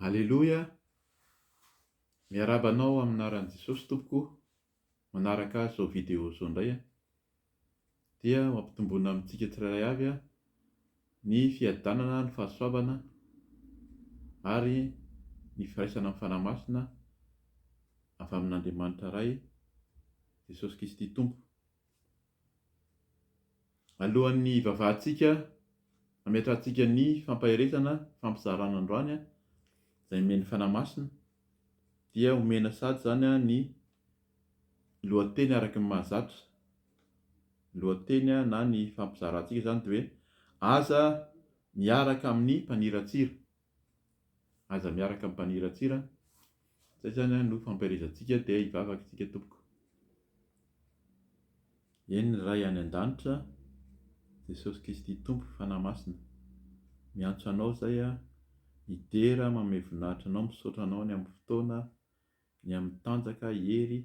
Aleloia! Miarahaba anao amin'ny anaran'i Jesosy tompoko, manaraka azy izao video izao indray aho, dia mampitomboana amintsika tsirairay avy aho ny fiadanana, ny fahasoavana ary ny firaisana amin'ny Fanahy Masina avy amin'Andriamanitra Ray, Jesosy Kristy Tompo. Alohan'ny hivavahantsika, hametrahantsika ny fampaherezana fampizarana androany izay nomen'ny Fanahy Masina dia omena sady izany ny lohateny araka ny mahazatra. Ny lohateny na ny fampizarantsika izany dia hoe aza miaraka amin'ny mpaniratsira. Aza miaraka mibaniratsira an! Zay zany an no fampielezantsika dia hivavaka isika tompoko. Eny ny Ray any an-danitra Jesosy Kristy Tompo Fanahy Masina miantso anao izay an, midera manome voninahitra anao misaotra anao ny amin'ny fotoana, ny amin'ny tanjaka, hery,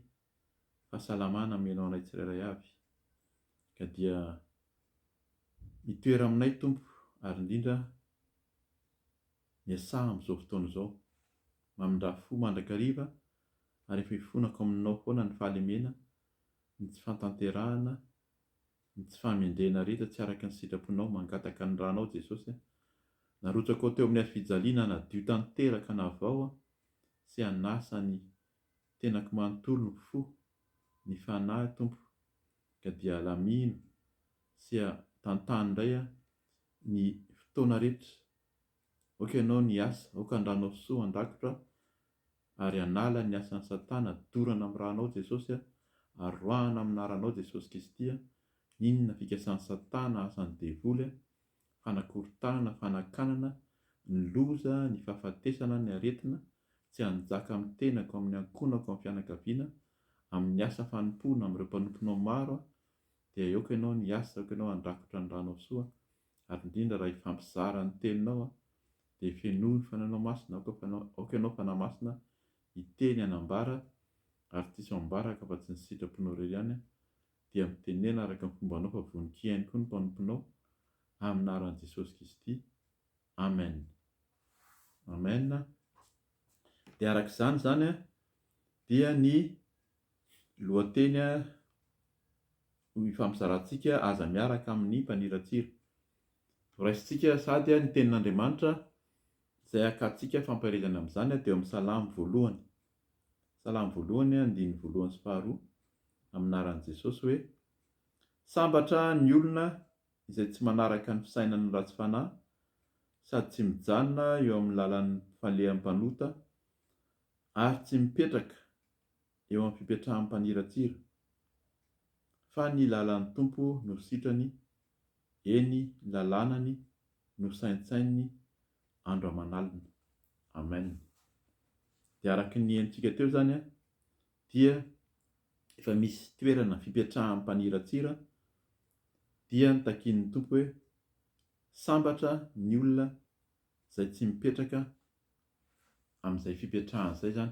fahasalamana ameno anay tsirairay avy ka dia mitoera aminay Tompo ary indrindra miasaha amin'izao fotoana izao mamindrà fo mandrakariva ary efa ifonako aminao foana ny fahalemena ny tsy fantanterahana ny tsy fahamendrena rehetra tsy araka ny sitraponao mangataka ny ranao Jesosy a narotsakao teo amin'ny hazofijaliana hanadio tanteraka anavao a sy hanasa ny Tenako manontolo ny fo, ny fanahy Tompo ka dia alamino sy a tantano indray a ny fotoana rehetra Aoka ianao ny asa, aoka andranao soa an-dakotra a ary anala ny asan'i satana dorana amin'ny ranao Jesosy a ary roahana amin'ny anaranao Jesosy Kristy a Inona fikasan'i satana, asan'ny devoly a fanakorontanana, fanakanana, ny loza, ny fahafatesana, ny aretina, tsy hanjaka amin'ny tenako, amin'ny ankohonako, amin'ny fianakaviana, amin'ny asa fanompoana, amin'ireo mpanomponao maro aho, dia aoka Ianao ny hiasa, aoka Ianao handrakotra ny Ranao soa, ary indrindra raha hifampizara ny Teninao aho, dia hifenoy ny Fanahinao Masina, aoka Fana, aoka Ianao Fanahy Masina hiteny, hanambara, ary tsy hisy ho ambaraka afa-tsy ny sitraponao irery ihany, dia mitenena araka ny fombanao fa vonon-kiainy koa ny mpanomponao amina aran'i Jesosy Kristy Amen Amen dia araka izany izany dia ny lohateny ifampizarantsika aza miaraka amin'ny mpaniratsira horaisintsika sady ny tenin'Andriamanitra izay akatsika fampaherezana amin'izany dia ao amin'ny salamo voalohany Salamo voalohany, andininy voalohany sy faharoa, amin'ny anaran'i Jesosy hoe, Sambatra ny olona izay tsy manaraka ny fisainan'ny ratsy fanahy sady tsy mijanona eo amin'ny lalan'ny mpifaleham mpanota ary tsy mipetraka eo amin'ny fipetrahan'ny mpaniratsira, fa ny lalan'ny Tompo no sitrany, eny, ny lalànany no saintsaininy andro aman'alina. Amen. Dia araka ny henontsika teo izany dia efa misy toerana fipetrahan'ny mpaniratsira dia notakian'ny Tompo hoe sambatra ny olona izay tsy mipetraka amin'izay fipetrahany izay izany.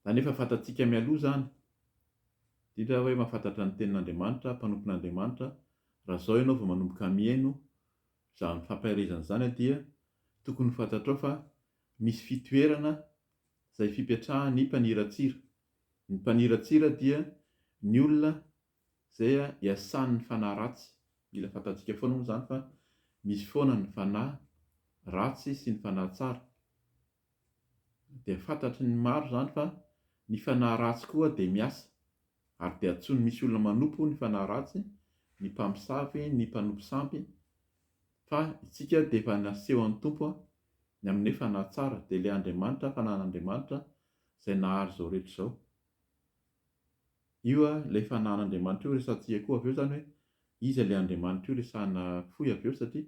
Izany efa fantatsika mialoha izany, indrindra hoe mahafantatra ny tenin'Andriamanitra, mpanompon'Andriamanitra, raha izao ianao vao manomboka mihaino Izany fampaherezana izany dia tokony ho fantatrao fa misy fitoerana izay fipetrahan'ny mpaniratsira. Ny mpaniratsira dia ny olona izay iasan'ny fanahy ratsy. Mila fantantsika foana moa izany fa misy foana ny fanahy ratsy sy ny fanahy tsara. dia fantatry ny maro izany fa ny fanahy ratsy koa dia miasa, ary dia antsoin'ny misy olona manompo ny fanahy ratsy, ny mpamosavy, ny mpanompo sampy, fa isika dia efa nasehon'ny Tompo ny amin'ny fanahy tsara, dia ilay Andriamanitra, fanahin'Andriamanitra, izay nahary izao rehetra izao. Io ilay fanahin'Andriamanitra io resahantsika koa avy eo izany hoe iza ilay Andriamanitra io resahina fohy avy eo satria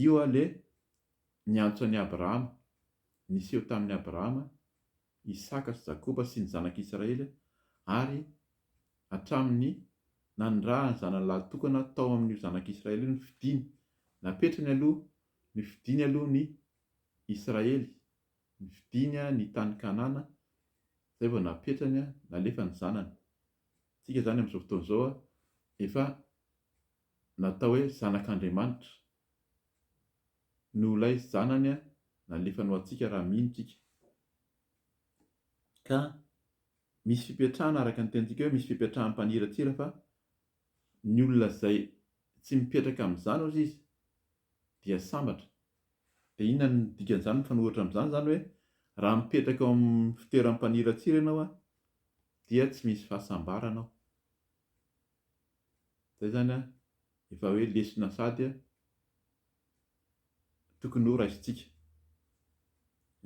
io ilay Niantso an'i Abrahama. Niseho tamin'i Abrahama, Isaka sy Jakoba sy ny zanak'i Israely ary hatramin'ny nanirahan'ny zanany lahatokana tao amin'io zanak'i Israely io ny fidiny. Napetrany aloha ny fidiny aloha ny Israely, ny fidiny ny tany Kanana, izay vao napetrany, nalefa ny zanany. Isika izany amin'izao fotoana izao efa natao hoe zanak'Andriamanitra. no ilay Zanany nalefa ho antsika raha mino tsika. Ka misy fipetrahana araka ny tenintsika hoe misy fipetrahany mpaniratsira fa ny olona izay tsy mipetraka amin'izany ozy izy dia sambatra. Dia inona ny dikan'izany mifanohitra amin'izany izany hoe raha mipetraka ao amin'ny fitoeran'ny mpaniratsira ianao dia tsy misy fahasambarana ao. Zay zany an, efa hoe lesona sady an, tokony ho raisintsika.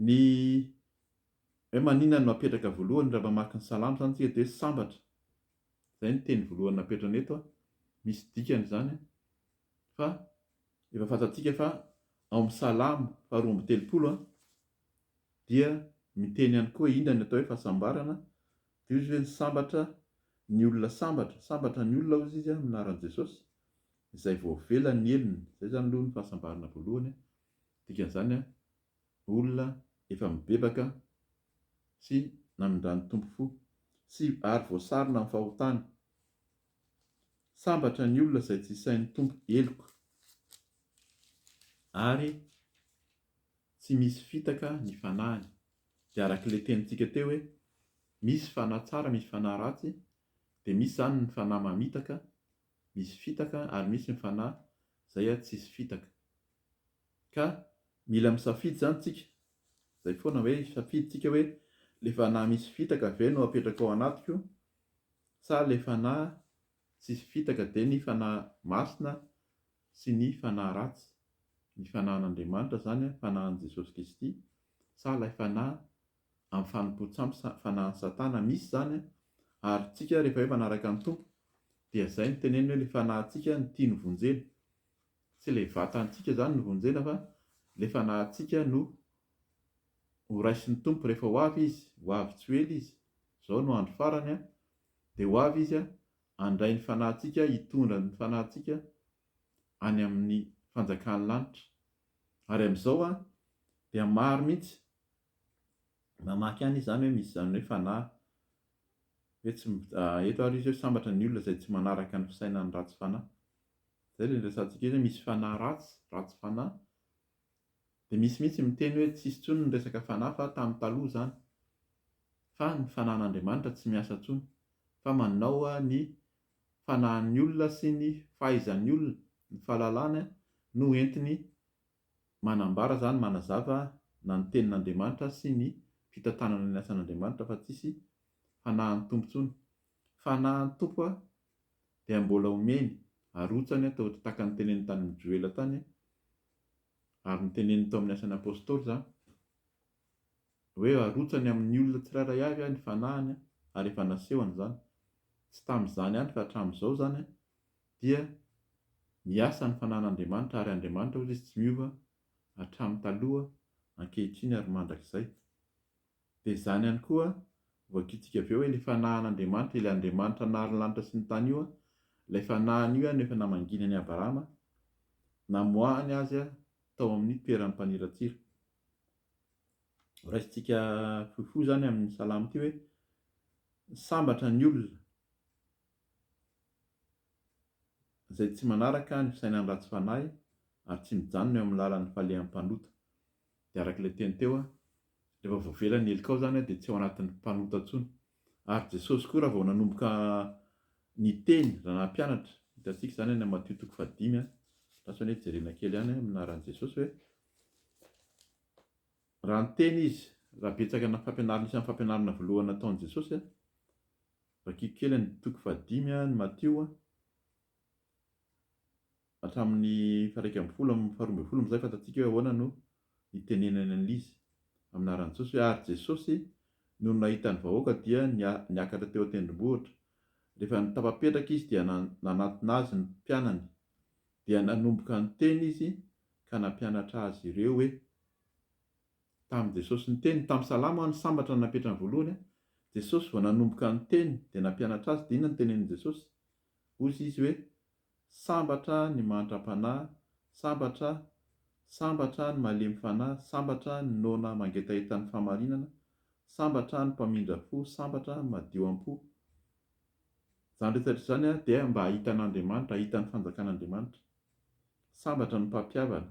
Ny hoe maninona no apetraka voalohany raha mamaky ny salamo zany tsika dia hoe sambatra. Zay ny teny voalohany napetrany eto an, misy dikany zany an, fa efa fantatsika fa ao amin'ny salamo faharoa amby telopolo an, dia miteny ihany koa inona ny atao hoe fahasambarana, dia hoy izy hoe ny sambatra, ny olona sambatra, sambatra ny olona hozy izy amin'ny anaran'i Jesosy, izay voavela ny helony, izay izany aloha ny fahasambarana voalohany, dikan'izany olona efa mibebaka sy namindran'ny Tompo fo, sy ary voasarona amin'ny fahotana, sambatra ny olona izay tsy isain'ny Tompo heloka, ary tsy misy fitaka ny fanahiny, dia arak'ilay tenintsika teo hoe misy fanahy tsara misy fanahy ratsy, dia misy izany ny fanahy mamitaka misy fitaka ary misy ny fanahy izay tsisy fitaka, ka mila misafidy izany tsika, izay foana hoe hisafidy tsika hoe ilay fanahy misy fitaka ve no apetrako ao anatiko sa ilay fanahy Tsisy fitaka dia ny fanahy masina sy ny fanahy ratsy, ny fanahin'Andriamanitra izany, fanahin'i Jesosy Kristy, sa ilay fanahy amin'ny fanompoan-tsampy, fanahin'i Satana misy izany, ary tsika rehefa hoe manaraka ny Tompo dia izay no teneniny hoe ilay fanahintsika no tiany vonjena, tsy ilay vatantsika izany no vonjena fa ilay fanahintsika no horaisin'ny Tompo rehefa ho avy Izy, ho avy tsy ho ela Izy, izao no andro farany Dia ho avy Izy handray ny fanahintsika, hitondra ny fanahintsika any amin'ny fanjakan'ny lanitra. Ary amin'izao dia maro mihitsy mamaky any izany hoe misy izany hoe fanahy. Hoe tsy, eto ary Izy hoe sambatra ny olona izay tsy manaraka ny fisainan'ny ratsy fanahy. Izay ilay niresahantsika hoe misy fanahy ratsy, ratsy fanahy. Dia misy mihitsy miteny hoe tsisy intsony ny resaka fanahy fa tamin'ny taloha izany. Fa ny fanahin'Andriamanitra tsy miasa intsony. Fa manao ny fanahin'ny olona sy ny fahaizan'ny olona, ny fahalalany no entiny manambara izany, manazava na ny tenin'Andriamanitra sy ny fitantanana ny asan'Andriamanitra fa tsisy fanahin'ny Tompo intsony. Fanahin'ny Tompo dia mbola omeny, arotsany, toa tahaka ny teneniny tany amin'i Joela tany, Ary noteneniny tao amin'ny Asan'ny Apôstôly izany hoe arotsany amin'ny olona tsirairay avy ny fanahiny ary efa nasehony izany. Tsy tamin'izany ihany fa hatramin'izao izany dia miasa ny fanahin'Andriamanitra ary Andriamanitra hoy izy tsy miova hatramin'ny taloha, ankehitriny ary mandrakizay. Dia izany ihany koa, voakitika avy eo hoe ilay fanahin'Andriamanitra, ilay Andriamanitra nahary ny lanitra sy ny tany io, ilay fanahiny io no efa namanginy an'i Abrahama, namoahany azy tao amin'ny toeran'ny mpaniratsira. Horaisintsika fohifohy izany amin'ny salamo ity hoe, Sambatra ny olona izay tsy manaraka ny fisainan'ny ratsy fanahy, ary tsy mijanona eo amin'ny lalan'ny falehan'ny mpanota. dia araka ilay teny teo aho, rehefa voavela ny helikao izany aho dia tsy ao anatin'ny mpanota intsony. Ary Jesosy koa raha vao nanomboka niteny, raha nampianatra, hitantsika izany any amin'ny Matio toko fahadimy a, latsany hoe jerena kely ihany amin'ny anaran'i Jesosy hoe, raha niteny izy, raha betsaka ny fampianarana, isan'ny fampianarana voalohany nataon'i Jesosy a, vakiko kely ny toko fahadimy a, ny Matio a, Hatramin'ny faha-iraika ambin'ny folo amin'ny faharoa ambin'ny folo amin'izay fantatsika hoe ahoana no hitenenany an'izy. Amin'aran'i Jesosy hoe ary Jesosy, nony nahita ny vahoaka dia niakatra teo an-tendrombohitra. Rehefa tafapetraka izy dia nanantona azy ny mpianany. Dia nanomboka niteny izy ka nampianatra azy ireo hoe. Tamin'i Jesosy niteny, tamin'ny salamo aho ny sambatra no napetrany voalohany, Jesosy vao nanomboka niteny dia nampianatra azy, dia inona no tenenin'i Jesosy? Hozy izy hoe, Sambatra ny mantram-panahy, sambatra, sambatra ny malemy fanahy, sambatra ny noana mangetaheta ny fahamarinana, sambatra ny mpamindra fo, sambatra ny madio am-po. Izany rehetra izany dia mba hahita an'Andriamanitra, hahita ny fanjakan'Andriamanitra. Sambatra ny mpampihavana.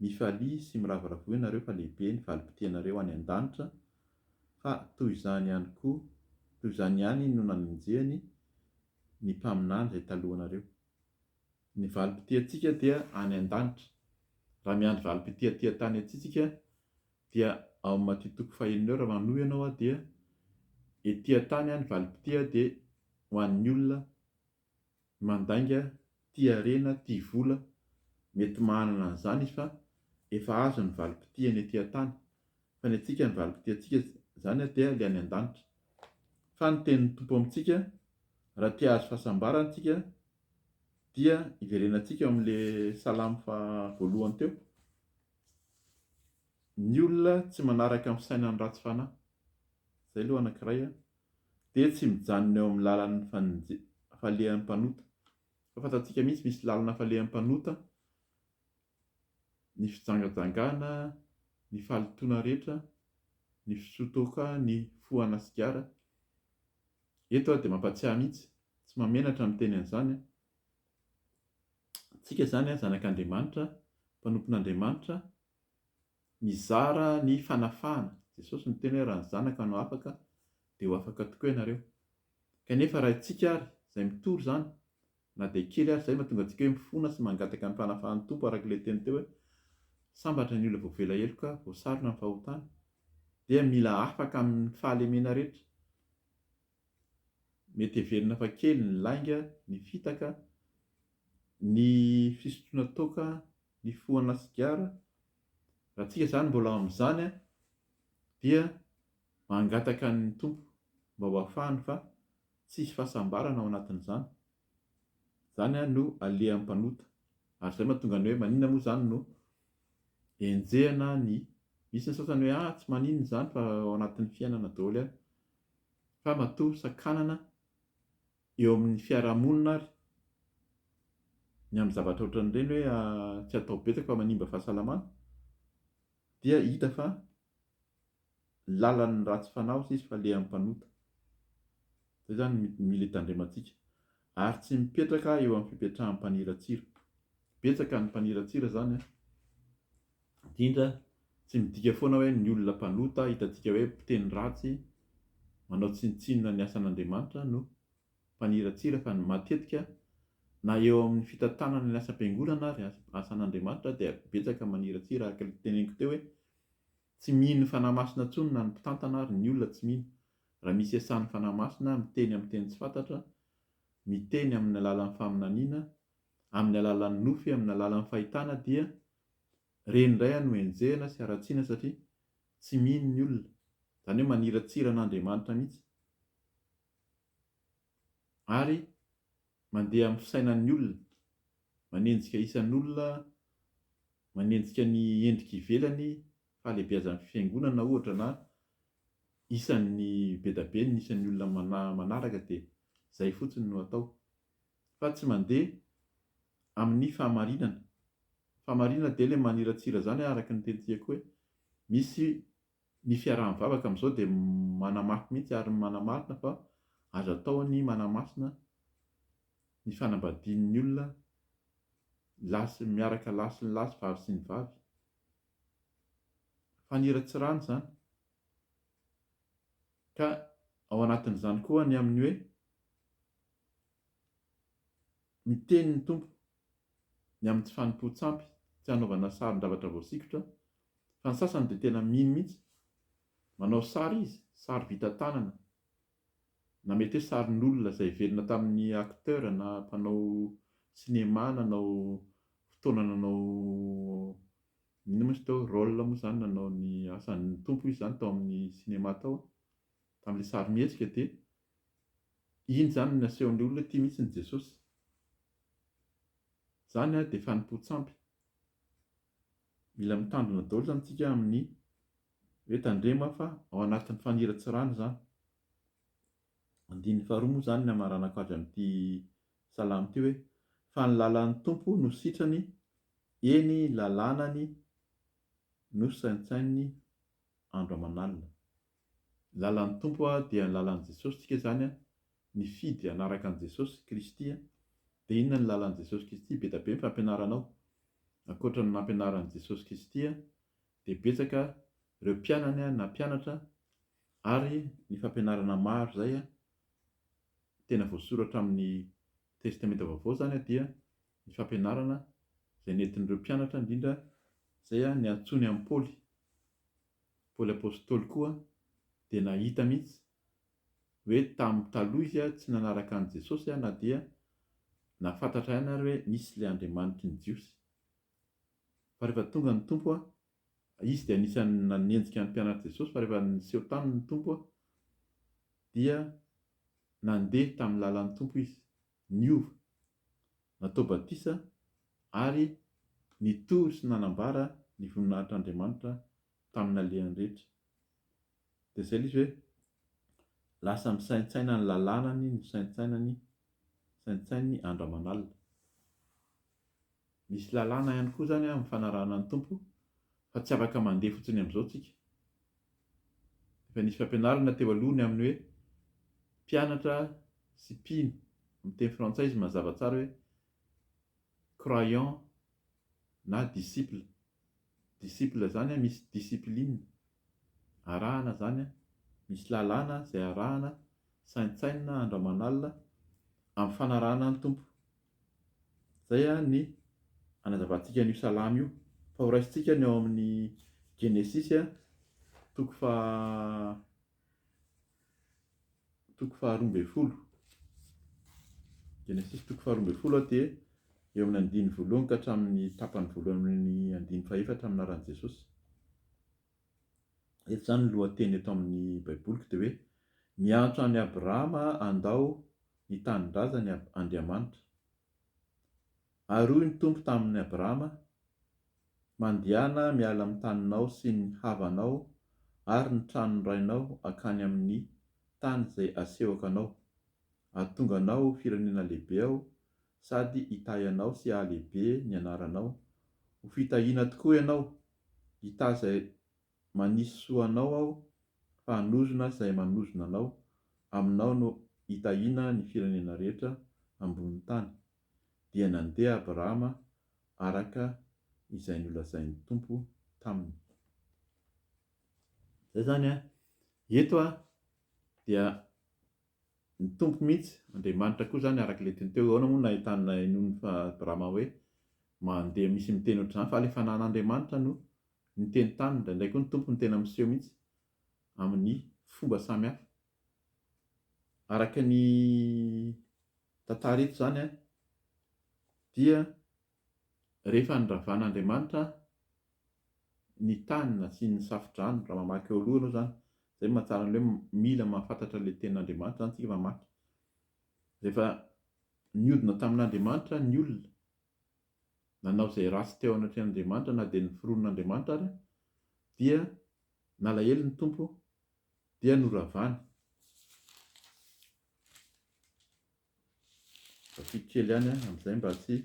Mifalia sy miravoravoa ianareo fa lehibe ny valim-potianareo any an-danitra, fa toy izany ihany koa, toy izany ihany no nanenjehany ny mpaminany izay talohanareo. Ny valim-potiantsika dia any an-danitra. Raha miandry valim-potia aty an-tany aty tsika dia ao amin'i Matio toko fahenina eo raha manohy ianao dia ety an-tany ny valim-potia dia ho an'ny olona mandainga tia harena tia vola mety mahanana an'izany izy fa efa azo ny valim-pitihany ety an-tany fa ny antsika ny valim-pitihantsika izany dia ilay any an-danitra fa ny tenin'ny Tompo amintsika raha te hahazo fahasambarana isika dia iverenantsika eo amin'ilay salamo faha voalohany teo ny olona tsy manaraka ny fisainan'ny ratsy fanahy izay aloha anankiray an dia tsy mijanona eo amin'ny lalan'ny fanenje-falehan'ny mpanota, fa fantatsika mihitsy misy lalana falehan'ny mpanota, ny fijangajangana, ny fahalitoana rehetra, ny fisotoka, ny fohana sigara, eto aho dia mampatsiahy mihitsy, tsy mahamenatra ny miteny an'izany an, tsika izany an, zanak'Andriamanitra, mpanompon'Andriamanitra, Mizara ny fanafahana. Jesosy niteny hoe raha ny Zanaka no afaka dia ho afaka tokoa ianareo. Kanefa raha itsika ary izay mitory izany na dia kely ary izay mahatonga antsika hoe mifona sy mangataka ny fanafahan'ny Tompo araka ilay teny teo hoe sambatra ny olona voavela heloka voasarona ny fahotana dia mila afaka amin'ny fahalemena rehetra Mety heverina fa kely ny lainga, ny fitaka, ny fisotroana toaka, ny fohana sigara. Raha tsika izany mbola ao amin'izany dia mangataka ny Tompo mba ho afahany fa tsy hisy fahasambarana ao anatin'izany. Izany no alehan'ny mpanota. Ary izay no mahatonga ny hoe maninona moa izany no enjehina ny, misy ny sasany hoe ah tsy maninona izany fa ao anatin'ny fiainana daholo. fa matoa sakanana eo amin'ny fiarahamonina ary ny amin'ny zavatra ohatran'ireny hoe tsy atao betsaka fa manimba fahasalamana dia hita fa lalan'ny ratsy fanahy osa izy fa lehan'ny mpanota. Izay izany no mila hitandremantsika. Ary tsy mipetraka eo amin'ny fipetrahan'ny mpaniratsira. Betsaka ny mpaniratsira izany an! Indrindra, tsy midika foana hoe ny olona mpanota hitantsika hoe mpiteny ratsy, manao tsinontsinona ny asan'Andriamanitra no mpaniratsira fa matetika na eo amin'ny fitantanana ny asam-piangonana ary asan'Andriamanitra dia betsaka maniratsira araka ilay teneniko teo hoe tsy mino Fanahy Masina intsony na ny mpitantana ary ny olona tsy mino raha misy iasan'ny Fanahy Masina miteny amin'ny teny tsy fantatra miteny amin'ny alalan'ny faminaniana amin'ny alalan'ny nofy amin'ny alalan'ny fahitana dia Ireny indray aho no enjehina sy haratsiana satria tsy mino ny olona, izany hoe maniratsira an'Andriamanitra mihitsy ary mandeha amin'ny fisainan'ny olona, manenjika isan'olona, manenjika ny endrika ivelany, fahalehibeazan'ny fiangonana ohatra na isan'ny be dia be ny isan'ny olona manaraka dia izay fotsiny no atao. Fa tsy mandeha amin'ny fahamarinana. Fahamarinana dia ilay maniratsira izany araka ny tenitiako hoe misy ny fiaraha-mivavaka amin'izao dia manamafy mihitsy ary manamarina fa azo atao ny manamasina ny fanambadian'ny olona lahy sy miaraka lahy sy ny lahy sy vavy sy ny vavy. Faniratsirana izany. Ka ao anatin'izany koa ny amin'ny hoe. Ny tenin'ny Tompo, ny amin'ity fanompoan-tsampy tsy hanaovana sarin-javatra voasikotra, fa ny sasany dia tena mino mihitsy, manao sary izy, sary vita tanana, na mety hoe sarin'olona izay velona tamin'ny acteur na mpanao cinéma nanao fotoana nanao inona moa izy teo, rôle moa izany nanao ny asan'ny Tompo izy izany tao amin'ny cinéma tao, tamin'ilay sarimihetsika dia Iny izany no nasehon'ny olona hoe tia mihitsy ny Jesosy. Izany ary dia fanompoan-tsampy. Mila mitandrina daholo izany isika amin'ny hoe tandremo fa ao anatin'ny faniratsirana izany. Andininy faharoa moa izany ny hamaranako azy amin'ity salamo ity hoe, fa ny lalan'ny Tompo no sitrany, eny lalànany no saintsaininy andro aman'alina. Lalan'ny Tompo a dia ny lalan'i Jesosy tsika zany a nifidy hanaraka an'i Jesosy Kristy a de inona ny lalan'i Jesosy Kristy be da be ny fampianaranao ankoatra ny nampianaran'i Jesosy Kristy a de betsaka reo mpianany a na mpianatra ary ny fampianarana maro zay a tena voasoratra amin'ny testamenta vaovao zany a dia ny fampianarana zay nentin'ireo mpianatra indrindra zay a niantsoany an'i Paoly Paoly Apostoly koa dia nahita mihitsy hoe tamin'ny taloha izy tsy nanaraka an'i Jesosy na dia nahafantatra ihany ary hoe misy ilay Andriamanitr'i ny Jiosy. Fa rehefa tonga ny Tompo, izy dia anisan'ny nanenjika ny mpianatr'i Jesosy fa rehefa niseho taminy ny Tompo dia nandeha tamin'ny lalan'ny Tompo izy. niova, natao batisa ary nitory sy nanambara ny voninahitr'Andriamanitra tamin'alehany rehetra. Dia izay ilay izy hoe, lasa misaintsaina ny lalànany nosaintsainany, saintsaininy andro aman'alina. Misy lalàna ihany koa izany amin'ny fanarahana ny Tompo fa tsy afaka mandeha fotsiny amin'izao tsika. Efa nisy fampianarana teo aloha ny amin'ny hoe mpianatra sy mpino, amin'ny teny frantsay izy mazava tsara hoe croyant na disciple. Disciple zany an misy discipline arahana zany an, misy lalàna zay arahana, saintsainina andro aman'alina amin'ny fanarahana ny Tompo. Zay an ny anazavantsika an'io salamo io, fa horaisintsika ny ao amin'ny Genesisy toko faha toko faharoa ambin'ny folo. Genesisy toko faharoa ambin'ny folo dia eo amin'ny andiny voalohany ka hatramin'ny tapany voalohany amin'ny andiny fahefatra amin'ny anaran'i Jesosy. Eto izany ny lohateny eto amin'ny Baiboliko dia hoe miantso an'i Abrahama handao ny tanindrazany Andriamanitra. Ary hoy ny Tompo tamin' Abrama, Mandehana miala amin' ny taninao sy ny havanao ary ny tranon' ny rainao hankany amin' ny tany izay asehoko anao, hahatonga anao ho firenena lehibe Aho, sady hitahy anao sy hahalehibe ny anaranao, ho fitahiana tokoa ianao, hitahy izay manisy soa anao Aho, fa hanozona izay manozona anao, aminao no hitahiana ny firenena rehetra ambonin' ny tany. dia nandeha Abrahama araka izay nolazain'ny Tompo taminy. Izay izany an! Eto dia ny Tompo mihitsy, Andriamanitra koa izany araka ilay teny teo hoe ahoana moa no nahitana inoan'ny Abrahama hoe mandeha misy miteny ohatr'izany fa ilay fanan'Andriamanitra no niteny taminy, indraindray koa ny Tompo no tena miseho mihitsy amin'ny fomba samihafa. Araka ny tantara eto izany dia rehefa noravan'Andriamanitra ny tany nasiany safo-drano, raha mamaky eo aloha ianao izany, izay no mahatsara an'ilay hoe mila mahafantatra ilay tenin'Andriamanitra izany isika mamaky. Rehefa niodina tamin'Andriamanitra ny olona, nanao izay ratsy teo anatrehan'Andriamanitra na dia ny fironan'Andriamanitra ary, dia Nalahelo ny Tompo dia noravany. Vakiako kely ihany amin'izay mba tsy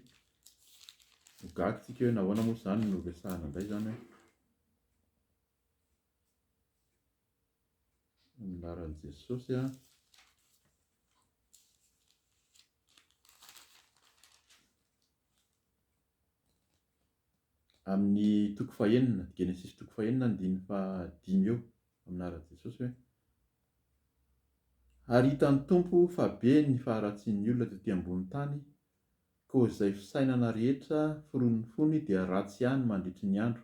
ho gaga tsika hoe nahoana moa izany no resahana indray izany amin'ny laran'i Jesosy an. amin'ny toko fahenina, Genesisy toko fahenina andininy fahadimy eo, amin'ny anaran'i Jesosy hoe, Ary hitan'ny Tompo fa be ny faharatsian'ny olona tety ambony tany, koa izay fisainana rehetra foronin'ny fony dia ratsy ihany mandritry ny andro,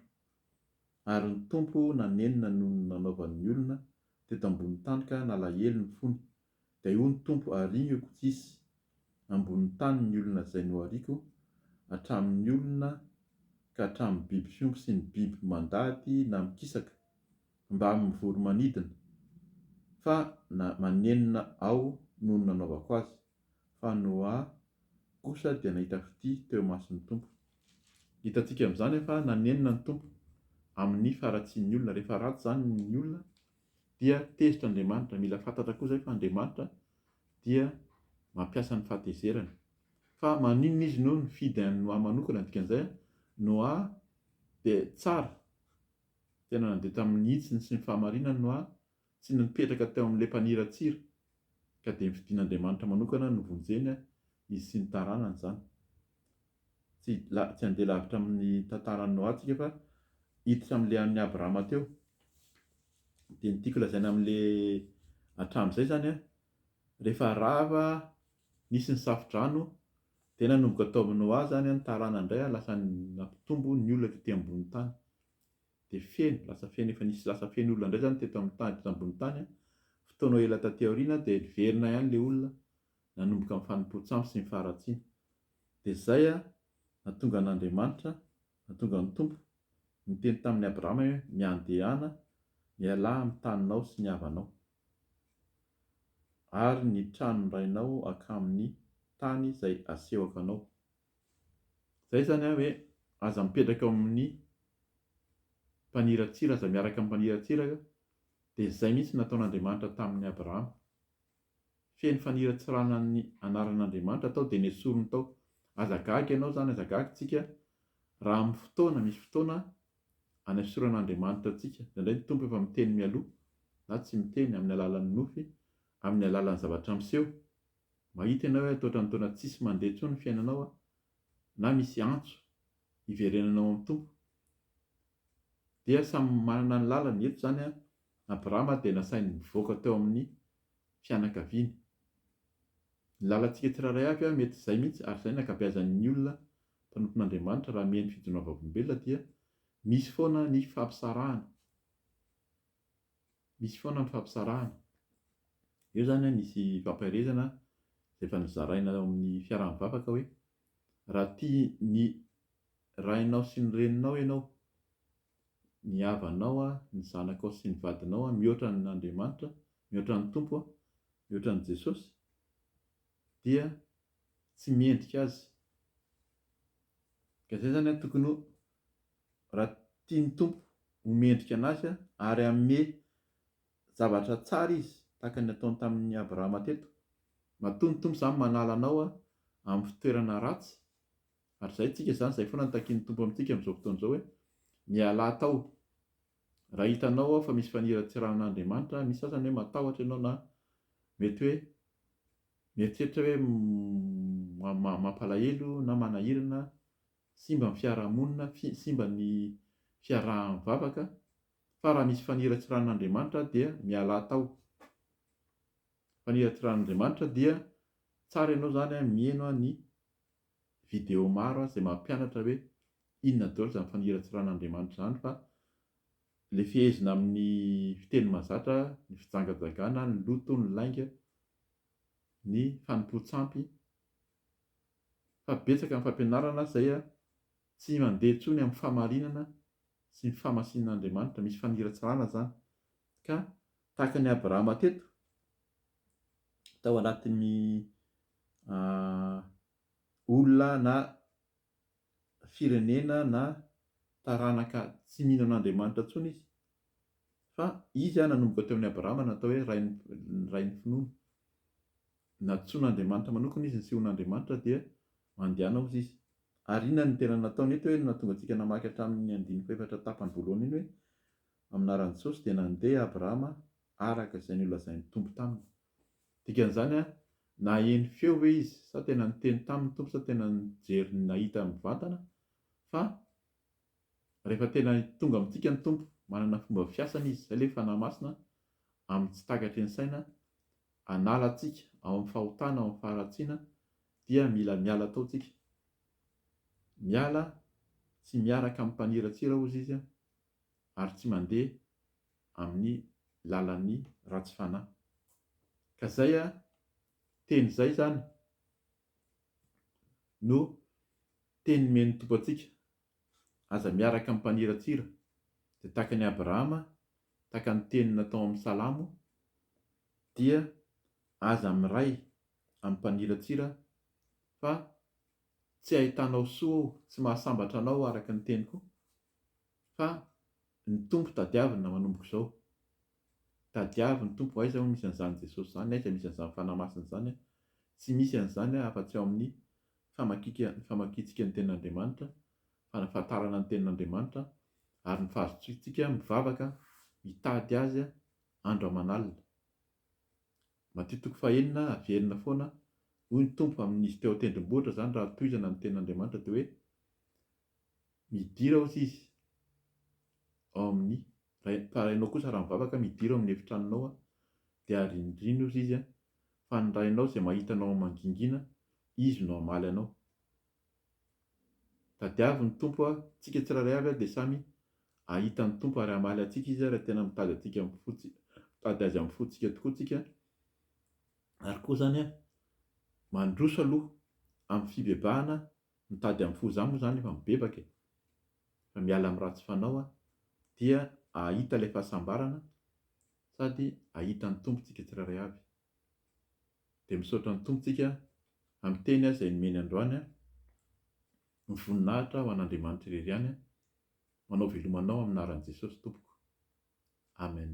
ary ny Tompo nanenina noho ny nanaovan'ny olona teto ambony tany ka nalahelo ny fony, Dia hoy ny Tompo Ariako tsisy ambonin'ny tany ny olona izay nohariako, hatramin'ny olona ka hatramin'ny biby fiompy sy ny biby mandady na mikisaka, mba amin'ny voro-manidina, fa na manenina Aho noho ny nanaovako azy. Fa Noa kosa dia nahita fitia teo imason'ny Tompo. Hitantsika amin'izany fa nanenina ny Tompo amin'ny faharatsian'ny olona. Rehefa ratsy izany ny olona dia tezitra Andriamanitra, mila fantatra koa izay fa Andriamanitra dia mampiasa ny fahatezerany, fa maninona izy no nifidy an'i Noa manokana, ny dikan'izay an, Noa dia tsara, tena nandeha tamin'ny hitsiny sy ny fahamarinany Noa, tsy nipetraka teo amin'ilay mpaniratsira, Ka dia ny fidin'Andriamanitra manokana no vonjena izy sy ny taranany izany. Tsy tsy handeha lavitra amin'ny tantaran'i Noa tsika fa hiditra amin'ilay an'i Abrahama teo. Dia ny tiako lazaina amin'ilay hatramin'izay izany an, rehefa rava nisy ny safo-drano dia nanomboka tao amin'i Noa izany ny taranany indray an, lasa nampitombo ny olona tety ambonin'ny tany. Dia feno, lasa feno, efa nisy lasa feno olona indray izany teto amin'ny tany, teto ambony tany an, fotoana ela taty aoriana dia niverina ihany ilay olona, nanomboka ny fanompoan-tsampy sy ny faharatsiana. Dia izay an, nahatonga an'Andriamanitra, nahatonga ny Tompo, niteny tamin'i Abrahama hoe, Miandehana, mialà amin'ny taninao sy ny havanao, ary ny tranon-drainao hankamy ny tany izay asehoko anao. Izay izany an hoe aza mipetraka eo amin'ny mpaniratsira, aza miaraka amin'ny mpaniratsira eo, dia izay mihitsy no nataon'Andriamanitra tamin'i Abrahama. Feno faniratsirana ny anaran'Andriamanitra tao dia nesoriny tao. Aza gaga ianao izany, aza gaga isika raha amin'ny fotoana, misy fotoana anesoran'Andriamanitra antsika. Indraindray ny Tompo efa miteny mialoha na tsy miteny amin'ny alalan'ny nofy, amin'ny alalan'ny zavatra miseho. Mahita ianao hoe ataotran'ny taona tsisy mandeha intsony ny fiainanao an! na misy antso hiverenana ao amin'ny Tompo dia samy manana ny lalany, eto izany an, Abrahama dia nasainy nivoaka teo amin'ny fianakaviany, ny lalantsika tsirairay avy an, mety izay mihitsy, ary izay ny ankabeazan'ny olona mpanompon'Andriamanitra raha mihaino fijoroan'ny vavolombelona dia misy foana ny fampisarahana. Misy foana ny fampitsarahana. Eo izany an, nisy fampaherezana izay efa nozaraina ao amin'ny fiaraha-mivavaka hoe, raha tia ny rainao sy ny reninao ianao, ny havanao, ny zanakao sy ny vadinao mihoatra an'Andriamanitra, mihoatra ny Tompo, mihoatra an'i Jesosy, dia tsy mendrika azy. Ka izay izany an, tokony ho raha tia ny Tompo ho mendrika anazy ary hanome zavatra tsara izy tahaka ny nataony tamin'i Abrahama teto, matoa ny Tompo izany manala anao amin'ny fitoerana ratsy, ary izay tsika izany izay foana no takian'ny Tompo amintsika amin'izao fotoana izao hoe, mialà tao raha hitanao aho fa misy faniratsiran'Andriamanitra misy sasany hoe matahotra ianao na mety hoe mieritreritra hoe mampalahelo na manahirana simba ny fiarahamonina, simba ny fiaraha-mivavaka, fa raha misy faniratsiranin'Andriamanitra dia mialà tao. Faniratsiranin'Andriamanitra dia tsara ianao izany miheno ny video maro izay mampianatra hoe inona daholo izany faniratsiran'Andriamanitra izany fa ilay fehezina amin'ny fiteny mahazatra, ny fijangajangana, ny loto, ny lainga, ny fanompoan-tsampy, fa betsaka ny fampianarana izay tsy mandeha intsony amin'ny fahamarinana sy ny fahamasinan'Andriamanitra, misy faniratsirana izany, ka tahaka an'i Abrahama teto, tao anatin'ny olona na firenena na taranaka tsy mino an'Andriamanitra intsony izy, fa izy nanomboka teo amin'i Abrahama no natao hoe rain'ny finoana. Nantsoin'Andriamanitra manokana izy ny Sion'Andriamanitra dia mandehana hozy izy. Ary inona no tena nataony eto hoe no nahatonga antsika namaky hatramin'ny andininy fahefatra tapany voalohany iny hoe amin'aran'i Jesosy dia nandeha Abrahama araka izay nolazain'ny Tompo taminy. Dikan'izany an, naheno feo ve izy sa tena niteny taminy Tompo sa tena nijery nahita mivantana fa Rehefa tena tonga amintsika ny Tompo, manana fomba fiasany Izy, izay ilay Fanahy Masina, amin'ny tsy takatry ny saina, hanala antsika ao amin'ny fahotana, ao amin'ny faharatsiana, dia mila miala tao tsika. Miala tsy miaraka amin'ny mpaniratsira, hozy Izy, ary tsy mandeha amin'ny lalan'ny ratsy fanahy. Ka izay teny izay izany no teny nomen'ny Tompo antsika, Aza miaraka amin'ny mpaniratsira, dia tahaka an'i Abrahama, tahaka ny tenina tao amin'ny Salamo, dia aza miray amin'ny mpaniratsira, fa tsy ahitanao soa ao, tsy mahasambatra anao araka ny teniko, fa ny Tompo tadiavina manomboka izao. Tadiavo ny Tompo, aiza hono misy an'izany Jesosy izany, aiza misy an'izany Fanahy Masina izany, tsy misy an'izany afa-tsy ao amin'ny famakika ny famakiantsika ny Tenin'Andriamanitra, fanafahatarana ny Tenin'Andriamanitra, ary ny fahazotoantsika mivavaka mitady Azy andro aman'alina. Matio toko fahenina, Averina foana, hoy ny Tompo, amin'izy teo an-tendrombohitra izany raha tohizana ny Tenin'Andriamanitra dia hoe, Midira hozy izy ao amin'ny. Rainao kosa raha mivavaka midiro amin'ny efitranonao aho dia arindrino ozy izy fa ny Rainao izay mahita anao mangingina izy no hamaly anao. Tadiavo ny Tompo a tsika tsirairay avy a dia samy ahita ny Tompo ary hamaly antsika izy raha tena mitady antsika amin'ny fo mitady azy amin'ny fontsika tokoa tsika ary koa izany a mandroso aloha amin'ny fibebahana Mitady amin'ny fo zah moa zany efa mibebaka e! Fa miala amin'ny ratsy fanao aho dia ahita ilay fahasambarana sady ahita ny Tompo tsika tsirairay avy. Dia misaotra ny Tompo tsika amin'ny teny aho izay nomeny androany an! Ny voninahitra ho an'Andriamanitra irery ihany an! Manao veloma anao amin'ny anaran'i Jesosy tompoko. Amen.